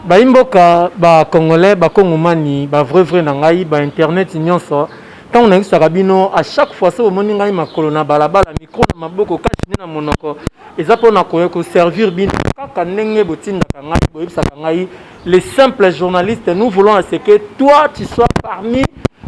bayimboka bacongolais bakongomani bavrai vrai na ngai bainternet nyonso ntango nayebisaka bino a chaque fois so bomoni ngai makolo na balabala mikro na maboko kasi nde na monoko Eza po na koya ko servir bino kaka ndenge botindaka ngai boyebisaka ngai les simples journalistes nous voulons à ce que toi tu sois parmi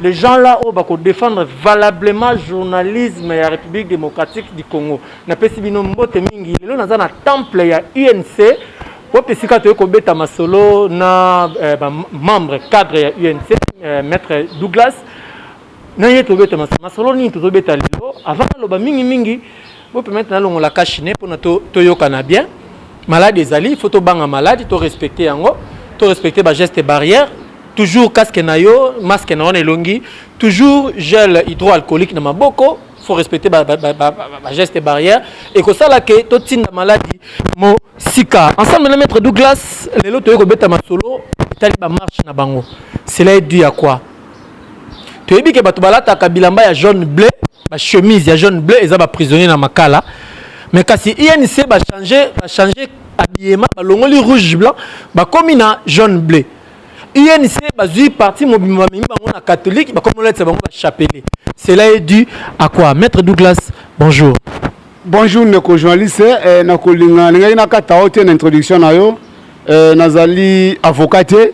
les gens là oyo bako défendre valablement journalisme ya République démocratique du Congo. Napesi bino mbote mingi. Lelo naza na temple ya UNC wapi esika toyei kobeta masolo na eh, ba membre cadre ya UNC eh, maître Douglas na ye tobeta masolo. Masolo nini tozobeta lelo? Avant naloba mingi mingi Bo permettre na longola cash ne pona to toyokana bien. Malade ezali, il faut to banga malade, to respecter yango, to respecter ba gestes barrières. Toujours casque na yo, masque na yo na elongi, toujours gel hydroalcoolique na maboko, faut respecter ba, ba, ba, ba, ba gestes barrières et que ça là que to tinda maladie mo sika ensemble na maître Douglas lelo toyeko beta masolo tali ba marche na bango cela est dû à quoi toyebi ke bato balataka bilamba ya jaune bleu ba chemise ya jaune bleu eza ba prisonnier na makala mais kasi inc bachange bachange habillement balongoli rouge blanc bakomi na jaune bleu inc bazwi parti mobimba bamemi bango na catholique bakomi olatisa bango bachapele cela est dû à quoi maître douglas bonjour bonjour ndeko journaliste eh, nakolinga nalingaki nakata yo te na introduction na yo eh, nazali avocat te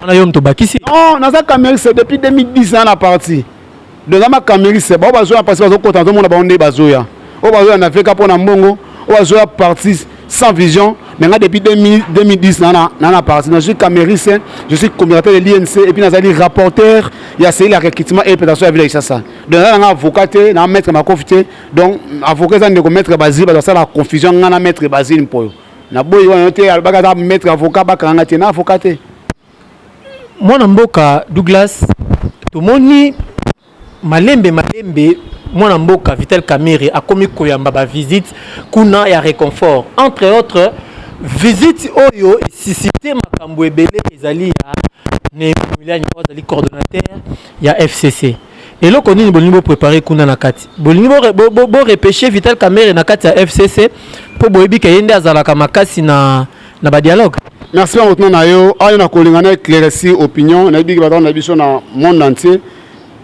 Wana yo mto bakisi. Non, naza Kamerisa depuis 2010 na na parti. Donc ama Kamerisa bao bazoya parce bazo kota nazo mona bao nde bazoya. Oyo bazoya na VK mpo na mbongo, oyo bazoya parti sans vision. Mais nga depuis 2010 na na na na parti. Je suis Kamerisa, je suis coordinateur de l'INC et puis nazali rapporteur ya seli ya recrutement et présentation ya ville ya Isasa. Donc na nga avocat te, na maître makofi te. Donc avocat eza ndeko maître Bazile, bazosala confusion nga na maître Bazile mpoyo. na boyi wana te alobaka aza maître avocat bakanga te na avocat te mwana mboka douglas tomoni malembe malembe mwana mboka vital kamere akomi koyamba bavisite kuna ya réconfort entre autres visite oyo esisite makambo ebele ezali ya neemiliani oyo azali coordonnateur ya fcc Eloko nini bolingi bo préparer kuna na kati? Bolingi bo, bo, bo, bo repêcher Vital Kamerhe na kati ya FCC mpo boyebi ke ye nde azalaka makasi na, na ba dialogue? Merci na motuna na yo. Ayo na kolinga na éclairci opinion nayebi ke batanga na biso na monde entier.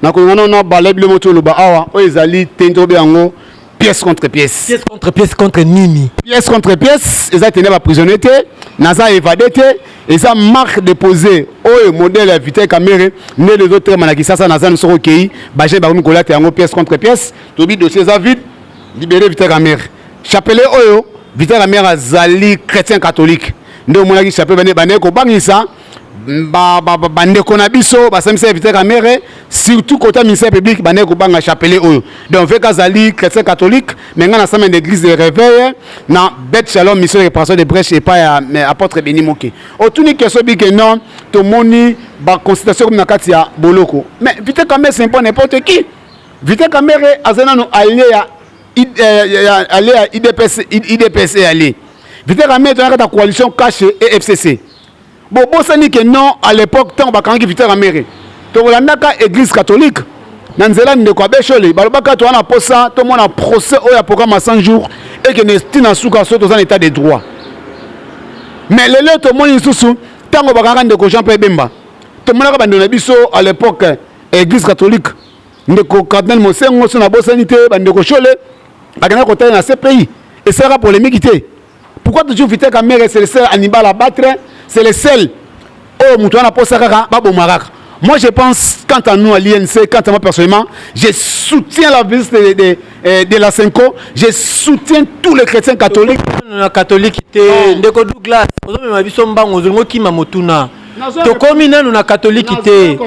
Na kolinga na na bala bile motio loba awa oyo ezali te nto be yango pièce contre pièce pièce contre pièce contre nini pièce contre pièce eza tene baprisonnier te naza évadé te eza marque déposé oyo modèle ya vital camere nde ezotrema na kisasa naza no soki okei bajeune bakomi kolata yango pièce contre pièce tobi dossier eza vide libere vital camere chapelet oyo vital camere azali chrétien catholique nde omonaki chapelet bandeki kobangisa bandeko na biso basambisa ya vital kamere surtout kota ministère public bandeki kobanga chapelet oyo donc veka azali chrétien catholique mais ngai nasami na église de réveil na bet shalom mission de réparation de brèche epai ya apôtre beni moke otuni question bike non tomoni baconsultation komi na kati ya boloko mais vital kamere c'est pas n'importe qui vital kamere azali nano alie ya euh, alie ya idps idps e alie vital kamere toyaka ta coalition cache et fcc bobosani ke non à l'époque ntango bakangaki victor kamere tokolandaka église catholique na nzela ndeko abeshole balobaka toza na mposa tomona procès oyo ya programme ya 100 jours ekende ti na suka so toza na état de droit mais lelo tomoni lisusu ntango bakangaka ndeko jean pierre bemba tomonaka bandeko na biso à l'époque église catholique ndeko cardinal mosengo so nabosani te bandeko shole bakendaka kotalela na cpi esalaka polemiki te pourquoi toujours vita kamere c'est le seul animal à battre c'est le seul oyo moto wana posa kaka baboma kaka moi je pense quant à nous à l'INC quant à moi personnellement je soutiens la visite de, de, eh, de, la Senko je soutiens tous les chrétiens catholiques na catholique te ndeko Douglas ozomema biso mbango ozongi okima motuna tokomi nanu na catholique te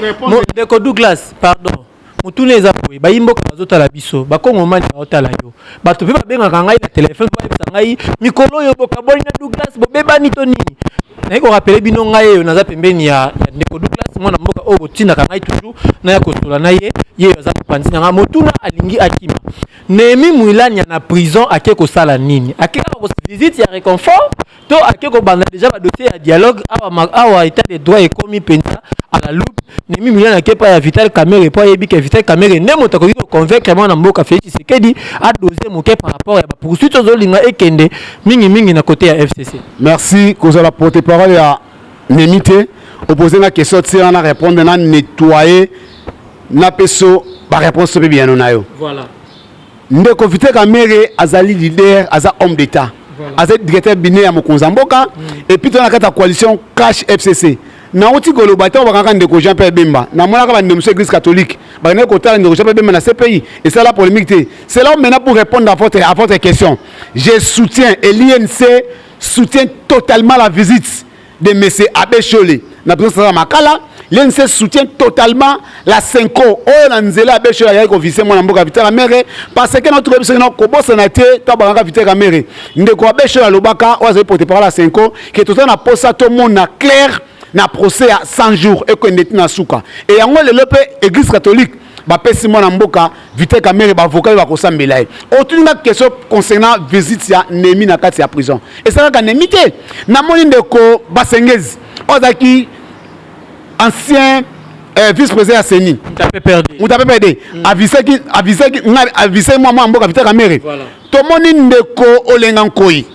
ndeko Douglas pardon motuna eza boye bayi mboka bazotala biso bakongomani baotala yo bato mpe babengaka ngai na telefone po bayebisa ngai mikolo oyo bokaboli na douglas bobebani to nini naye korapele bino ngai eyo naza pembeni ya, ya ndeko douglas mwana mboka oyo botindaka ngai toujours naya kosola na ye ye oyo aza mopanzi na ngai motuna alingi akima nehemi mwilania na prison ake kosala nini ake kaka kosa visite ya reconfort to ake kobanda deja badosie ya dialogue awa, awa etat de droit ekomi mpenza à la loupe nemi milio nake epai ya vital kamere mpo ayebi ke vital kamere nde moto akoki koconvaincre mwana mboka felix tshisekedi adose moke par rapport ya bapoursuite ozolinga ekende mingimingi na kote ya fcc merci kozala porte parole ya nemi te opose nga question tia na répondre na nettoye na peso baréponse mpe biyano na yo voilà. ndeko vite kamere azali leader aza homme d'état voilà. azali directeur bine ya mokonzi ya mboka mm. epuis to na kati ya coalition cash fcc nauti koloba ntango bakangaka ndeko jean pierre bemba namonaka bandeko mosusu église catholique bakendaki kotala ndeko jean pierre bemba na cpi esala polémique te c'est là maintenant pour répondre à votre, à votre question je soutiens et l'inc soutient totalement la visite de monsieur Abbé Shole na présence ya Makala l'NC soutient totalement la Senko oyo na nzela Abbé Shole ayaki kovise mwana mboka Vital Kamerhe parce que na toyebi soki na kobosana te to abangaka Vital Kamerhe ndeko Abbé Shole alobaka oyo azali porte parole ya Senko ke toza na posa tomona claire na procès ya 100 jours ekende ti na suka e yango lelo mpe église catholique bapesi mwana mboka Vital Kamerhe ba avocat yo bakosambela ye otuni nga question concernant visite ya Nemi na kati ya prison esalaka Nemi te namoni ndeko Basengezi oyo azalaki ancien euh, vice président ya CENI Mutape Perde avisaki avisaki avisaki mwa mwa mboka Vital Kamerhe tomoni ndeko Olenga Nkoyi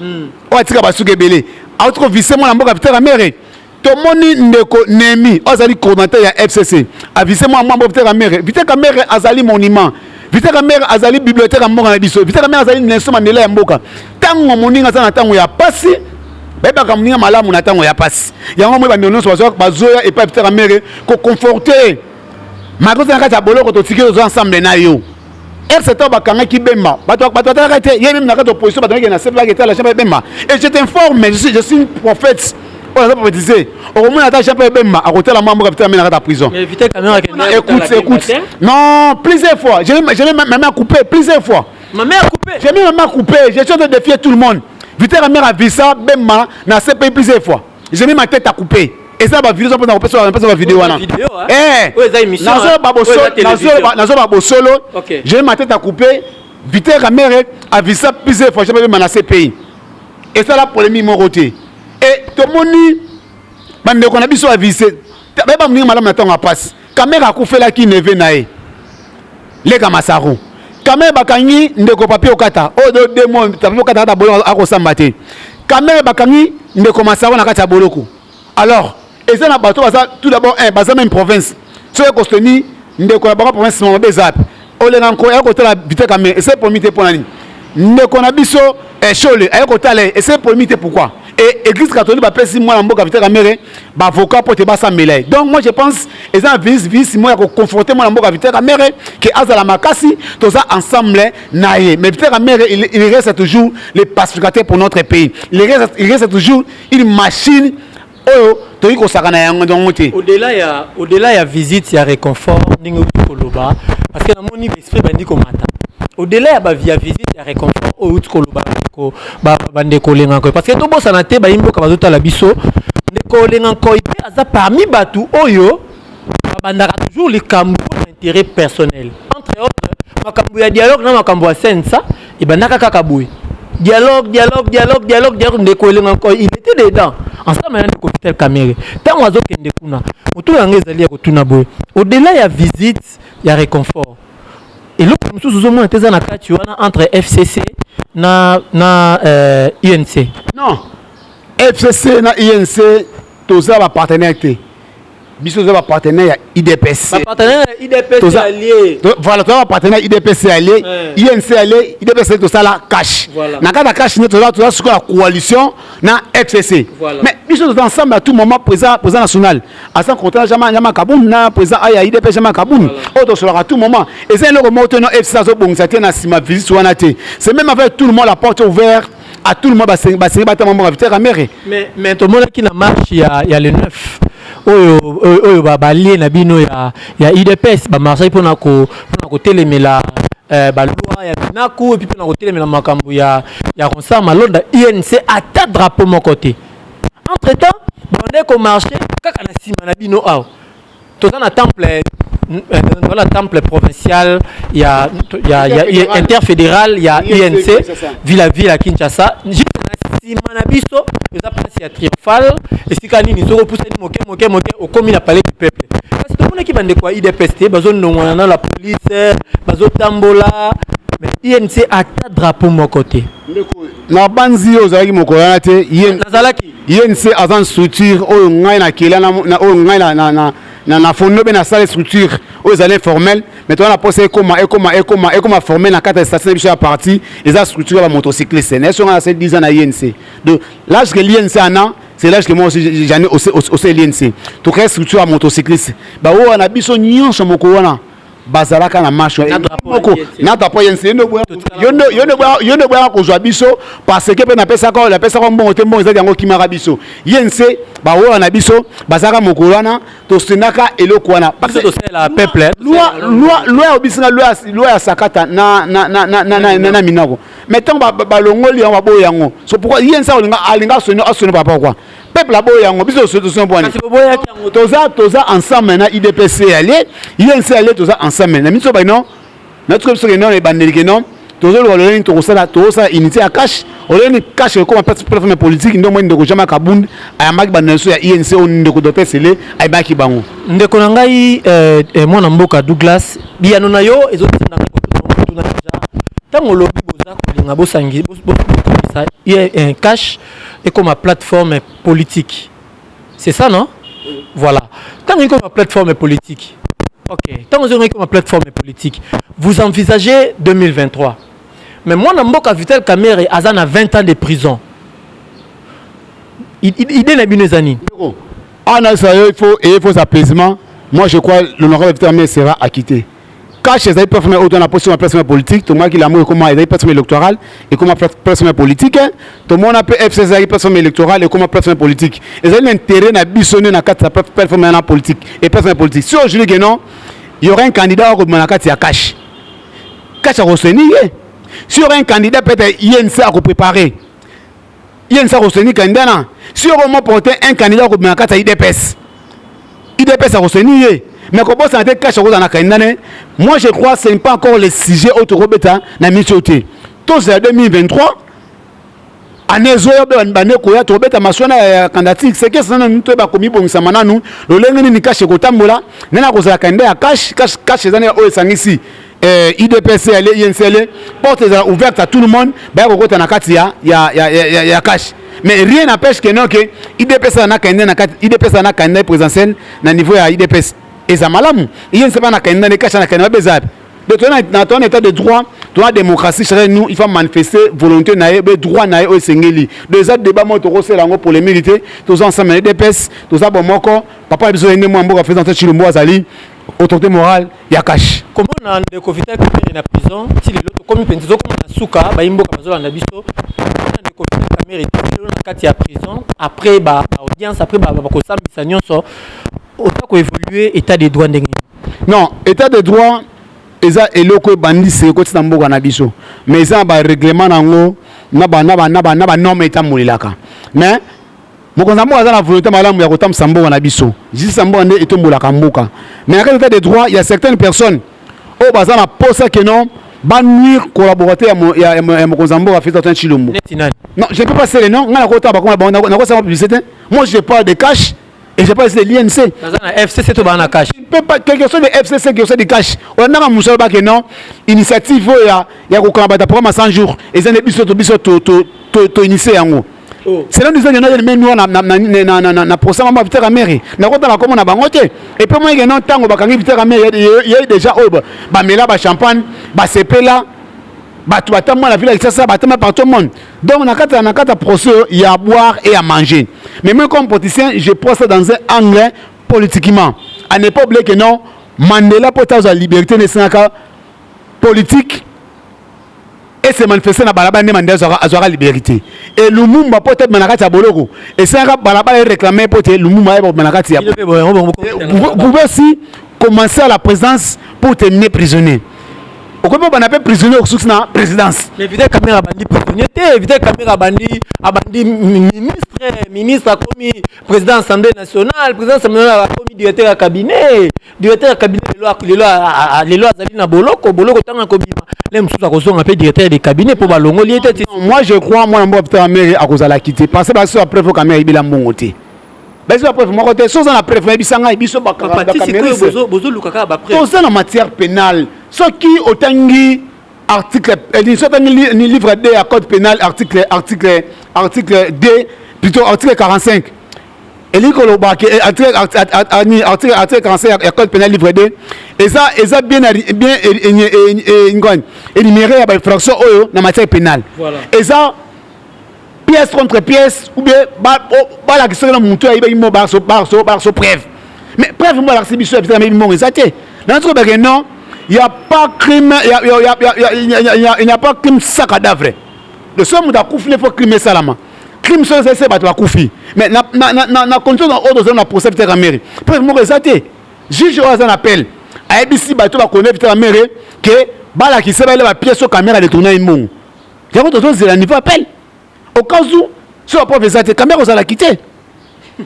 oyo atika basuki ebele auti kovise mwana mboka Vital Kamerhe tomoni ndeko nemi oyo azali coordinateur ya fcc avise mwa mwambo vite kamere vite kamere azali monument vite kamere azali bibliothèque ya mboka na biso vite kamere azali nelso mandela ya mboka ntango moninga aza na ntango ya pasi bayebaka moninga malamu na ntango ya pasi yango moi bandeko nyonso bazoya epai vite kamere koconforte makoza na kati ya boloko totiki oza ensemble na yo RC to bakangaki Bemba bato bato batalaka te ye meme na kati opposition bato ngeke na sepe bake tala chambre Bemba et je t'informe je suis je suis une prophète oyo aza prophétiser okomona ata chambre Bemba akotala mwa mboka vitala mena kata prison écoute écoute non plusieurs fois je vais je vais même à couper plusieurs fois ma mère coupé j'ai mis ma mère coupé je suis en train de défier tout le monde Vita la mère a vu ça Bemba na CPI plusieurs fois je mets ma tête à couper eza ba video mpona kopesa mpesa ba video wana eh nazo ba bosolo nazo ba nazo ba bosolo je mets ma tête à couper Viter Kamere avisa plusieurs fois jamais na CPI esala polémique moko te e tomoni bandeko na biso avise bayeba moninga malamu na ntango ya mpasi Kamere akufelaki neve na ye leka masaru kamere bakangi ndeko papi okata oyo do demo papi okata kata boloko akosamba te kamere bakangi ndeko masaru na kati ya boloko alors eza na bato baza tout d'abord un eh, baza meme province soki ekosteni ndeko na bango province mama baza olenga nko aye kotala biteka me ese pomi te mpo na nini ndeko na biso eshole eh, aye kotala ye ese pomi te pourquoi e église catholique bapesi mwana mboka viteka mere baavocat mpo te basambela ye donc moi je pense eza na vice vice moko ya koconforte mwana mboka viteka mere ke azala makasi toza ensemble na ye mais viteka mere il, il reste toujours le pacificateur pour notre pays il reste, il reste toujours une machine oyo toyei kosakana yango yango te odela ya odela ya visite ya réconfort ndenge outi koloba parce que namoni baesprit bandi komata odela ya bavia visite ya réconfort oyo outi koloba ndeko bandeko olenga nkoy parce que tobosana te bayi mboka bazotala biso ndeko olenga nkoy mpe aza parmi bato oyo babandaka toujours likambo mpo na intérêt personnel entre autres makambo ya dialogue na makambo ya sensa ebandaka kaka boye dialogue dialogue dialogue dialogue dialogue ndeko elenga encore il était dedans ensemble na ndeko vital kamere ntango azokende kuna motuna yango ezali ya kotuna boye au-delà ya visite ya réconfort eloko mosusu ozomona te eza na kati wana entre fcc na, na euh, unc non fcc na unc toza bapartenaire te biso toza ba partenaire ya idps ba partenaire ya idps toza allié voilà toza ba partenaire ya idps allié inc allié idps tosala cash na kata cash ne toza toza sikoyo ya coalition na fcc mais biso toza ensemble à tout moment président président national aza contrat jama jama kabund na président aya idps jama kabund oyo tosolaka à tout moment eza eloko moko te no fcc azobongisa te na nsima visite wana te c'est même avec tout le monde la porte ouverte à tout le monde basengi basengi batama mbongo vital kamere mais mais tomonaki na marche ya ya le 9 oyo oyo balie na bino ya ya udps bamarsaki mpona mpona kotelemela eh, balwa ya binaku epuis mpona kotelemela makambo ya ya concert malonda inc ata drapeau moko te entre temps bande komarche kaka na nsima na bino awa toza na temple dans la temple provincial il y a, il y a, il y a, il y a interfédéral il y a UNC ville à ville à Kinshasa juste nsima na biso eza place ya triomphale esika nini soki opusani moke moke moke okomi na palais du peuple kasi tomonaki bandeko ya idps te bazonongwana na la police bazotambola inc ata drapeau moko te nabanzi yo ozalaki mokolo wana te nazalaki INC aza structure oyo ngai na kela na oyo ngai na na na na na fondo be na sala structure oyo ezali informel mais toza na posa ekoma ekoma ekoma ekoma formel na kati ya statut na biso ya parti eza structure ya bamotocycliste na eso ngai na sali 10 ans na INC donc l'âge que l'INC ana c'est l'âge que moi aussi j'en ai au sein de l'INC to créer structure ya motocycliste ba oyo na biso nyonso moko wana bazalaka na marche na drapeau moko na drapeau ya nse yo nde boyaka kozwa biso parce que mpe napesaka oyo napesaka mbongo te mbongo ezali yango kimaka biso ye nse bawola na biso bazalaka mokolo wana tosendaka eloko wana loi ya obisinga loi ya sakata na minako mais ntango balongoli yango baboyi yango so pourkoi ye nse alinga asoni asoni papa kua peuple aboyi yango biso solution bwani toza toza ensemble na idps alie inc alie toza ensemble na biso baino natuka biso keno na ebandeli keno tozoloba lolenge nini tokosala tokosala unité ya cash olenge nini cash ekoma plateforme politique nde omoi ndeko jama kabund ayambaki banda na biso ya inc oyo ndeko dote sele ayebaki bango ndeko na ngai euh, euh, mwana mboka douglas biyano na yo ezotuna ngai kotuna deja ntango olobi boza kolinga bosangi bokomisa cash ekoma plateforme politique c'est ça non voilà ntango ekoma plateforme politique ok ntango ozongaki koma plateforme politique vous envisagez 2023 mais mwana mboka vital kamere aza na 20 ans de prison idée na bino eza nini ana ah, ça il faut il faut apaisement moi je crois l'honorable vital kamere sera acquitté Cash ezali plateforme oyo twana mposi ma plateforme politique tomonaki lamu ekoma ezali plateforme électorale ekoma plateforme politique tomona mpe fc ezalaki plateforme électorale ekoma plateforme politique ezali na intérêt na biso nde na kati ya plateforme wana politique et plateforme politique si ojuli ke non y aura un candidat oyo akobima na kati ya cash cash akoseni ye si y aura un candidat peut-être ye nse akoprépare ye nsa koseni candidat na si oko mo porter un candidat akobima na kati ya idps idps akoseni ye mais kobosana te kasha kozala na candidat ne moi je crois ce n'est pas encore le sujet oyo tokobeta na miniti oyo te tozela 2023 année ezoya mpe bande koya tokobeta maswana ya candidature seke sana nanu toyeba komibongisama nanu lolenge nini kashe ekotambola nani akozala candidat ya kashe kashe eza na oyo esangisi eh, udps ale yensele porte ezala ouverte à tout le monde baya kokota na kati ya, ya, ya, ya, ya, ya kashe mais rien n'empêche que non ke udps aza na candidat na kati udps aza na candidat présidentiel na niveau ya udps eza malamu yense bana candidat ne kashe na candidat babe eza yapi donc toza na toza na état de droit toza na démocratie chere nous il faut manifester volonté na ye be droit na ye oyo esengeli donc eza débat moko tokosela yango polémique te toza ensemble na udps toza bomoko papa na biso ye nde mwa mboka président tshilombo azali autorité morale ya kashi komona ndeko vital kamere na prison ti lelo tokomi mpenza tozokoma na suka bayimboka bazolanda biso komona ndeko vital kamere ti lelo na kati ya prison après ba audience après bakosambisa nyonso oza koévolue état de droit ndenge non état de droit eza eloko ebandi se ekoti na mboka na biso mais eza na barèglement na yango na banorme etambolelaka mais Mokonzi ya mboka aza na volonte malamu ya kotambwisa mboka na biso. Justice ya mboka nde etombolaka mboka. Mais na kati etat de droit, il y a certaines personnes oyo baza na posa que non ba nuire collaborateur ya, mo, ya, ya, ya mokonzi ya mboka Félix Antoine Tshilombo. Neti nani? Non, je ne peux pas citer les noms. Nga nakota bakoma bango, nako- nakosala publicité. Moi je parle de cash et je parle ici de l'INC. Baza na FCC to baa na cash. Je ne peux pas, que que ce soit de FCC, que que ce soit de cash. Olandaka mosala ba que non, initiative oyo ya, ya kokanga bata programme ya 100 jours, eza nde biso to biso to, to, to, to initier yango. Oh. selo ndizonge na yeli memi wana na procès mama vitaka mairie nakotala komo na bango te epuis moyeke no ntango bakangi vitaka mairie ye déjà oyo oh, bamela bachampagne basepela bato batambwa na vila kisasa batambwa partout monde donc na kati na kati ya procès oyo ya boire et ya manger mais moi comme politicien je prends ça dans un angle politiquement à ne pas oublier que non mandela mpo ete azwa liberté na esengaka politique e se manifester na balabala nde mande azwaka azwaka liberite et lumumba mpo te na kati ya boloko esengaka balabala ereclame mpo te lumumba ayeba kobima na kati ya pouvez aussi commencer à la présidence pour terminer prisonnier okomi babanda mpe prisonnier okosuki na présidence mais vital kamera abandi prisonnier te vital kamera abandi abandi ministre ministre akomi président assemblée nationale président assemblée nationale akomi directeur ya cabinet directeur ya cabinet lelo azali na boloko boloko ntango akobima le mosusu akozonga mpe directeur de cabinet mpo balongoli ye te moi je crois mwana mboka peter amere akozala kiti parce que basoso ya preuve oyo kamere ayibela mbongo te bazwi ba preuve moko te soki oza na preuve nayebisa ngai biso bakameritoza ah, na matière pénale soki otangi article eh, soki otangi ni livre d ya code pénal article article article d plutôt article 45 elingi koloba ke eh, article article article 45 ya code pénal livre 2 eza eza bien bien ngani énuméré ya ba infraction oyo na matière pénale eza pièce contre pièce ou bien balakisi soki na motu ayibaki mo barso barso barso preuve mais preuve mo balakisi biso ya bitameli mongo eza te na nati kobake non il n'y a pas crime il n'y a pas crime sans cadavre le seul moto akufi ne faut crime esalama crime soki ezali se bato bakufi mais na, na, na, na, na condition oyo tozali na procès vitaka mere preuve moko eza te juge oyo aza na appel ayebisi bato bakone vitaka mere ke balakisa baele bapiese oyo kamera detourna ye mbongo yango tozozela niveau appel au cas où so bapreuve eza te kamera ozalaki te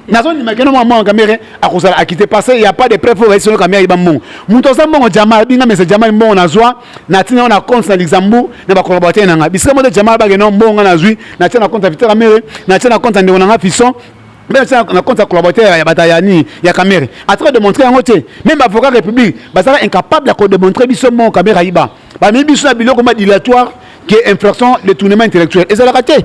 nazondima keno mwa mwana kamere akozala akite parce il y a pas de preuve oyo bayisolo kamere ayiba mbongo moto aza mbongo jamal binga mese jamal mbongo nazwa natina yango na compte na luxembourg na bakolaborateur na ngai bisika moto jamal bake no mbongo ngai nazwi natia na compte ya vita kamere natia na compte ya ndeko na ngai fison meme tia na compte ya collaborateur ya bata ya nini ya kamere atika demontre yango te meme bavocat république bazalaka incapable ya kodemontre biso mbongo kamere ayiba bamemi biso na biloko ma dilatoire ke infraction de tournement intellectuel ezalaka te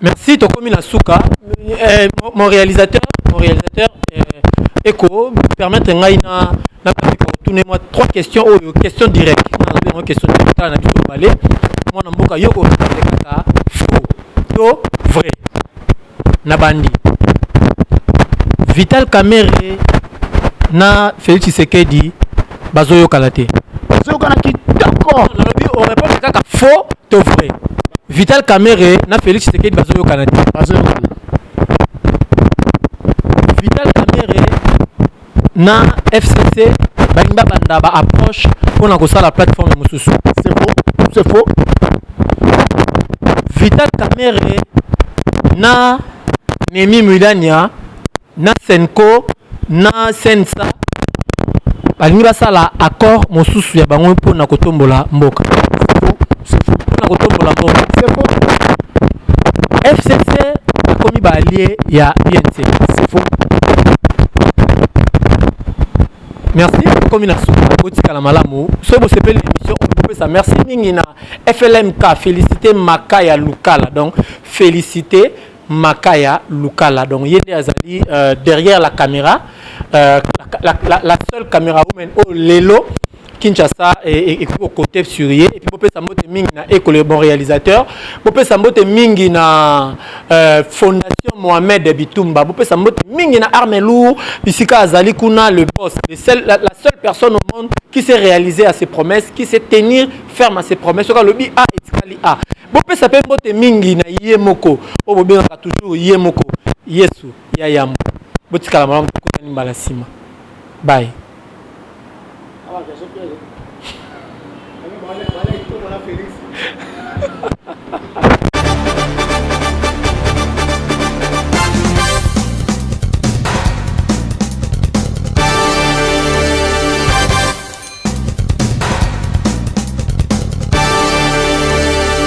Merci, tokomi na suka. Euh, mon réalisateur, mon réalisateur, euh, Eko, permettre ngai na na tourner moi trois questions ou oh, question directe. Na question directe na biso balé. Moi na mboka yoko kaka faux to vrai. Na bandi. Vital Kamerhe na Félix Tshisekedi bazo yokana te bazo yokana kitoko nalobi o répondre kaka faux to vrai Vital Kamerhe na Félix Tshisekedi bazo yokana te bazo yokana Vital Kamerhe na FCC balingi babanda ba approche mpo na kosala plateforme mosusu c'est faux c'est faux Vital Kamerhe na Nemi Mulania na senco na sensa balingi basala accord mosusu ya bango mpo na kotombola mboka mpo na kotombola mboka fcc akomi baalie ya unc merci komi na suka botikala malamu soki bosepeli émission oyo bopesa merci mingi na flmk félicité maka ya lukala donc félicité Makaya Lukala donc ye nde azali euh, derrière la caméra euh, la, la, la seule caméra woman oyo oh, lelo Kinshasa et, et, au côté Surier et puis bopé sambote mingi na école le bon réalisateur bopé sambote mingi na euh, fondation Mohamed Bitumba bopé sambote mingi na arme lourd bisika azali kuna le boss le seul, la, la seule personne au monde qui s'est réalisé à ses promesses qui s'est tenir ferme à ses promesses soka lobi a ah, etikali a ah. bopesa mpe mbote mingi na ye moko oyo bobengaka toujours ye moko yesu ya yambo botikala malamu tokutani mbala nsima baye